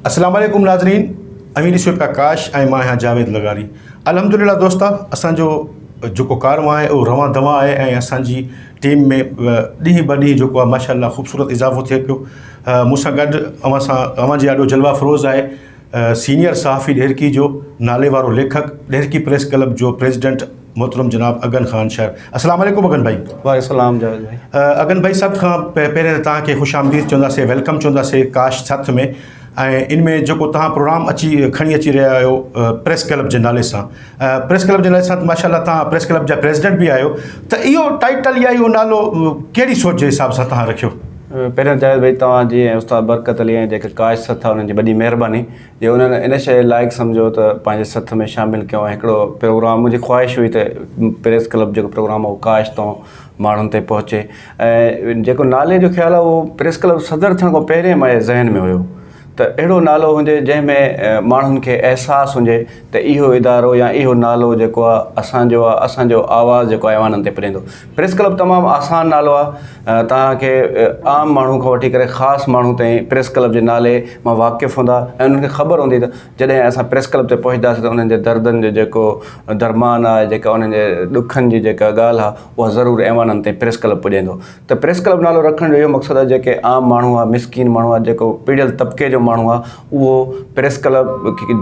السلام عليڪم ناظرين امين شو پرڪاش ۽ مان آهيان جاويد لغاري الحمدلله دوستا اسان جو جيڪو ڪارو آهي اهو روان دوان آهي ۽ اسان جي ٽيم ۾ ڏينهن ٻه ڏينهن جيڪو آهي ماشاء الله خوبصورت اضافو ٿئي پيو مون سان گڏ اوهان سان اوهان جي آڏو جلوه افروز آهي سينيئر صحافي ڏهرڪي جو ناليوارو ليکڪ ڏهرڪي پريس ڪلب جو پريزيڊنٽ محترم جناب اگن خان شر اسلام عليڪم اگن ڀائي وعليڪم السلام جاويد ڀائي اگن ڀائي سڀ کان پهرين ته تهان کي خوش آمديد چوندا سي ويلڪم چوندا سي ڪاش سٿ ۾ ۽ ان ۾ جيڪو تهان پروگرام اچي کڻي اچي رهيا آهيو پريس ڪلب جي نالي سان پريس ڪلب جي لائسنس ماشاء الله تھان پريس ڪلب جا پريزيڊنٽ به آھيو ته اھو ٽائيٽل يا اھو نالو ڪھڙي سوچ جي حساب سان تھان رکيو؟ پهريان جاويد ڀائي توهان جي ۽ استاد برڪت علي ۽ جيڪي ڪاش سٿ آهي انهن جي وڏي مهرباني جو انهن ان شيء لائق سمجهيو ته پنهنجي سٿ ۾ شامل ڪيو ۽ هڪڙو پروگرام منهنجي خواهش هئي ته پريس ڪلب جيڪو پروگرام هو ڪاش تون ماڻهن تائين پهچي ۽ جيڪو نالي جو خيال آهي اهو پريس ڪلب صدر ٿيڻ کان پهرين ماهي ذهن ۾ هيو ته اهڙو نالو هجي جنهن ۾ ماڻهن کي احساس هجي ته اهو ادارو يا اهو نالو جيڪو آ اسان جو آ اسان جو آواز جيڪو آ ايوانن تي پڄندو پريس ڪلب تمام آسان نالو آ توهان کي عام ماڻهو کان وٺي ڪري خاص ماڻهو تائين پريس ڪلب جي نالي مان واقف هوندا ۽ انهن کي خبر هوندي ته جڏهن اسان پريس ڪلب تي پهچداسين ته انهن جي دردن جو جيڪو درمان آ جيڪا انهن جي ڏکن جي جيڪا ڳالهه آ اها ضرور ايوانن تائين پريس ڪلب پڄيندو ته پريس ڪلب نالو رکڻ جو اهو مقصد آهي جيڪي عام ماڻهو آهي مسڪين ماڻهو آهي جيڪو پڙهيل طبقي جو ماڻهو آهي اهو پريس ڪلب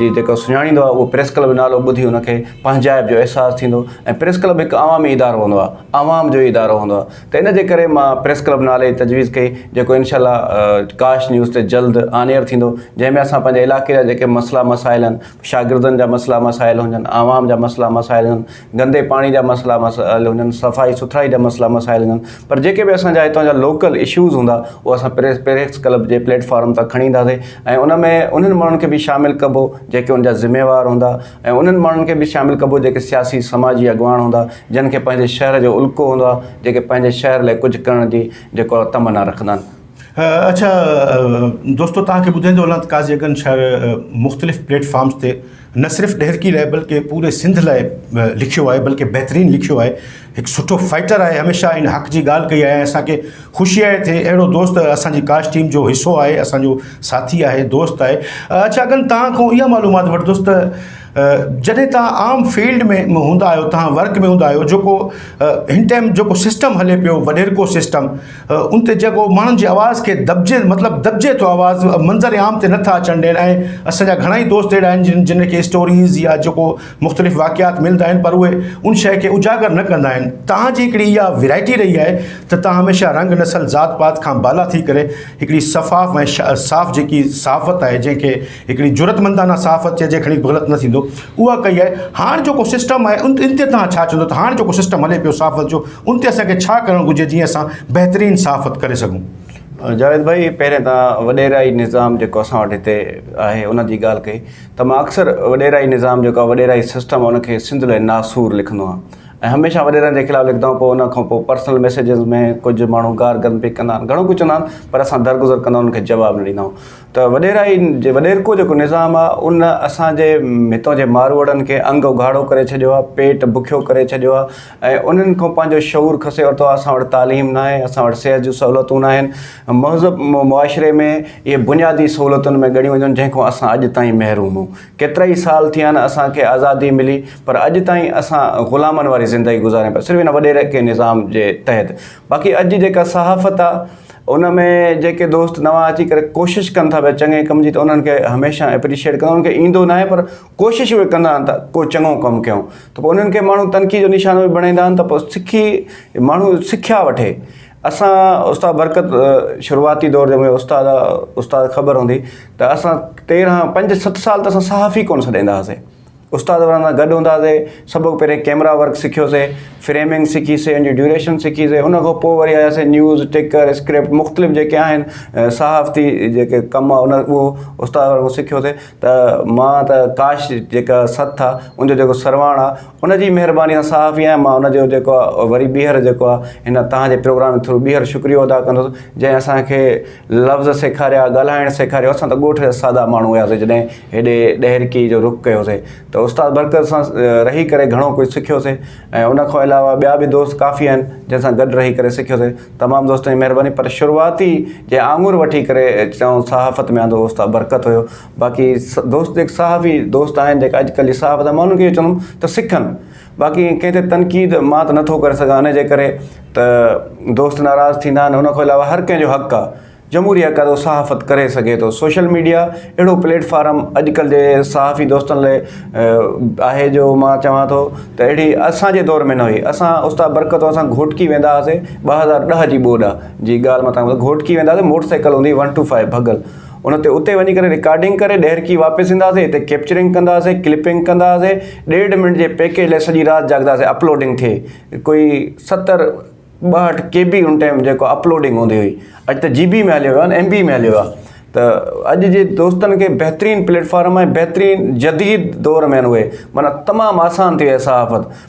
جي جيڪو سڃاڻيندو آهي اهو پريس ڪلب جو نالو ٻڌي ان کي پنهنجائپ جو احساس ٿيندو ۽ پريس ڪلب هڪ عوامي ادارو هوندو آهي عوام جو ادارو هوندو آهي ته ان جي ڪري مان پريس ڪلب نالي جي تجويز ڪئي جيڪو انشاء الله ڪاش نيوز تي جلد آن ايئر ٿيندو جنهن ۾ اسان پنهنجي علاقي جا جيڪي مسئلا مسائل آهن شاگردن جا مسئلا مسائل هجن عوام جا مسئلا مسائل هجن گندي پاڻي جا مسئلا مسائل هجن صفائي سٿرائي جا مسئلا مسائل هجن پر جيڪي به اسان جا هتان جا لوڪل اشوز هوندا اهو اسان پريس پريس ڪلب جي پليٽ فارم تان کڻي اينداسي ۽ ان ۾ انهن ماڻهن کي به شامل ڪبو جيڪي ان جا ذميوار هوندا ۽ انهن ماڻهن کي به شامل ڪبو جيڪي سياسي سماجي اڳواڻ هوندا جن کي پنهنجي شهر جو الڪو هوندو آهي جيڪي پنهنجي شهر لاء ڪجهه ڪرڻ جي جيڪو تمنا رکندا آهن. اڇا دوستو توهان کي ٻڌائيندو هلان ته قاضي اڳن شاعر مختلف پليٽ فارمز تي نه صرف ڏهرڪي لاء بلڪه پوري سنڌ لاء لکيو آهي بلڪه بهترين لکيو آهي هڪ سٺو فائيٽر آهي هميشه ان حق جي ڳالهه ڪئي آهي اسان کي خوشي آهي ته اهڙو دوست اسان جي ڪاسٽ ٽيم جو حصو آهي اسان جو ساٿي آهي دوست آهي اڇا اڳن توهان کان اها معلومات وٺدس ته جڏهن توهان عام فيلڊ ۾ هوندا آهيو توهان ورڪ ۾ هوندا آهيو جيڪو هن ٽائيم جيڪو سسٽم هلي پيو وڏيرڪو سسٽم ان تي جيڪو ماڻهن جي آواز کي دٻجي مطلب دٻجي ٿو آواز منظر عام تي نٿا اچڻ ڏين ۽ اسان جا گهڻا ئي دوست اهڙا آهن جن جن کي اسٽوريز يا جيڪو مختلف واقعات ملندا آهن پر اهي ان شيء کي اجاگر نه ڪندا آهن توهان جي هڪڙي اها ويرائٽي رهي آهي ته توهان هميشه رنگ نسل ذات پات کان بالا ٿي ڪري هڪڙي شفاف ۽ صاف جيڪي صحافت آهي جنهن کي هڪڙي جرئتمندانه صحافت چئجي کڻي غلط نه ٿيندو اها ڪئي آهي هاڻ جيڪو سسٽم آهي ان تي توهان ڇا چوندو ته هاڻ جيڪو سسٽم هلي پيو صحافت جو ان تي اسان کي ڇا ڪرڻ گهرجي جيئن اسان بهترين صحافت ڪري سگهون جاويد ڀائي پهرين تان وڏيرائي نظام جيڪو اسان وٽ هتي آهي ان جي ڳالهه ڪئي ته مان اڪثر وڏيرائي نظام جيڪو آهي وڏيرائي سسٽم ان کي سنڌ لاء ناسور لکندو آهيان ۽ هميشه وڏيرن جي خلاف لکندو آهيان پوء ان کان پوء پرسنل ميسيجز ۾ ڪجهه ماڻهو گار گند به ڪندا آهن گهڻو ڪجهه چوندا آهن پر اسان درگذر ڪندا آهيون ان کي جواب نه ڏيندا آهيون ته وڏيرائي جي وڏيرڪو جيڪو نظام آ ان اسان جي هتان جي ماروئڙن کي انگ اگهاڙو ڪري ڇڏيو آ پيٽ بکيو ڪري ڇڏيو آ ۽ انهن کان پنهنجو شعور کسي ورتو آ اسان وٽ تعليم ناهي اسان وٽ صحت جون سهولتون ناهن مهذب معاشري ۾ اهي بنيادي سهولتن ۾ ڳڻيون وڃن جنهن کان اسان اڄ تائين محروم آهون ڪيترائي سال ٿيا آهن اسان کي آزادي ملي پر اڄ تائين اسان غلامن واري زندگي گذاريون پيا صرف ان وڏيرڪي نظام جي تحت باقي اڄ جي جيڪا صحافت آ ان ۾ جيڪي دوست نوان اچي ڪري ڪوشش ڪن ٿا پيا چڱي ڪم جي ته انهن کي هميشه اپريشيئيٽ ڪندا انهن کي ايندو ناهي پر ڪوشش اهي ڪندا آهن ته ڪو چڱو ڪم ڪيون ته پوء انهن کي ماڻهو تنقيد جو نشانو به بڻائيندا آهن ته پوء سکي ماڻهو سکيا وٺي اسان استاد برڪت شروعاتي دور جي مهيو استاد استاد خبر هوندي ته اسان تيرهن پنج ست سال ته اسان صحافي ڪونه سڏيندا هئاسين استاد ورن سان گڏ هوندا سي سڀ کان پهرين ڪيمرا ورڪ سکيو سي فريمنگ سکي سي ان جي ڊيوريشن سکي سي ان کان پوء وري آيا سي نيوز ٽڪر اسڪرپٽ مختلف جيڪي آهن صحافتي جيڪي ڪم ان اهو استاد ورن کان سکيو سي ته مان ته ڪاش جيڪا سٿ آهي ان جو جيڪو سرواڻ آهي ان جي مهرباني سان صحافي آهيان مان ان جو جيڪو آهي وري ٻيهر جيڪو آهي هن تهان جي پروگرام ٿرو ٻيهر شڪريو ادا ڪندس جنهن اسان کي لفظ سيکاريا، ڳالهائڻ سيکاريو، اسان ته ڳوٺ جا سادا ماڻهو هياسي جڏهن هيڏي ڏهرڪي جو رخ ڪيوسي ته استاد برڪت سان رهي ڪري گهڻو ڪجهه سکيوسي ۽ ان کان علاوه ٻيا به دوست ڪافي آهن جن سان گڏ رهي ڪري سکيوسي تمام دوستن جي مهرباني پر شروعاتي جنهن آڱر وٺي ڪري چئون صحافت ۾ آندو استاد برڪت هيو باقي دوست جيڪي صحافي دوست آهن جيڪا اڄڪلهه جي صحافت مان انهن کي اهو چوندم ته سکن باقي ڪنهن تي تنقيد مان ته نٿو ڪري سگهان ان جي ڪري ته دوست ناراض ٿيندا آهن ان کان علاوه هر ڪنهن جو حق آ جمهوري حق آ ته صحافت ڪري سگهي ٿو سوشل ميڊيا اهڙو پليٽ فارم اڄڪلهه جي صحافي دوستن لاء آهي جو مان چوان ٿو ته اهڙي اسانجي دور ۾ نه هئي اسان استاد برڪت وارن سان گهوٽڪي ويندا هئاسي ٻه هزار ڏهه جي ٻوڏ جي ڳالهه مان تنگ گهوٽڪي ويندا هئاسي موٽر سائيڪل هوندي ون ٽو فائيو ڀڳل ان تي اتي وڃي ڪري رڪارڊنگ ڪري ڏهرڪي واپس اينداسي اتي ڪيپچرنگ ڪنداسي ڪلپنگ ڪنداسي ڏيڍ منٽ جي پيڪيج لاء سڄي رات جاڳداسي اپلوڊنگ ٿئي ڪوئي ستر ٻاهٺ ڪي بي ان ٽائيم جيڪو اپلوڊنگ هوندي هئي اڄ ته جي بي ۾ هليو ويو ايم بي ۾ هليو ويو ته اڄ جي دوستن کي بهترين پليٽ فارم ۽ بهترين جديد دور ۾ آهن اهي معنيٰ تمام آسان ٿي وئي صحافت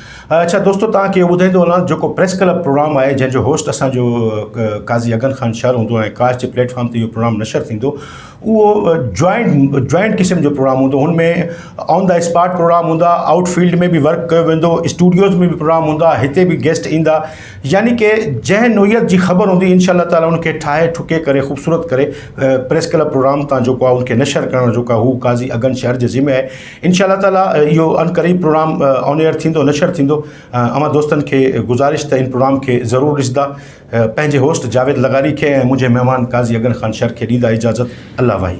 اڇا دوستو توهان کي اهو ٻڌائيندو هلان جيڪو پريس ڪلب پروگرام آهي جنهن جو هوسٽ اسان جو قاضي اگن خان شر هوندو ۽ ڪاش جي پليٽ فارم تي اهو پروگرام نشر ٿيندو اهو جوائنٽ جوائنٽ قسم جو پروگرام هوندو هن ۾ آن دا اسپاٽ پروگرام هوندا آؤٽ فيلڊ ۾ به ورڪ ڪيو ويندو اسٽوڊيوز ۾ به پروگرام هوندا هتي به گيسٽ ايندا يعني ڪي جنهن نوعيت جي خبر هوندي انشاء الله تعالي ان کي ٺاهي ٺڪي ڪري خوبصورت ڪري پريس ڪلب پروگرام تان جيڪو آهي ان کي نشر ڪرڻ جيڪو آهي هو قاضي اگن شر جي ذمي آهي انشاء الله تعالٰي اهو ان قريب پروگرام آن ايئر ٿيندو نشر ٿيندو اوهان دوستن کي گذارش ته ان پروگرام کي ضرور ڏسندا پنهنجي هوسٽ جاويد لغاري کي ۽ منهنجي مهمان قاضي اگن خان شر کي ڏيندا اجازت الله واهي.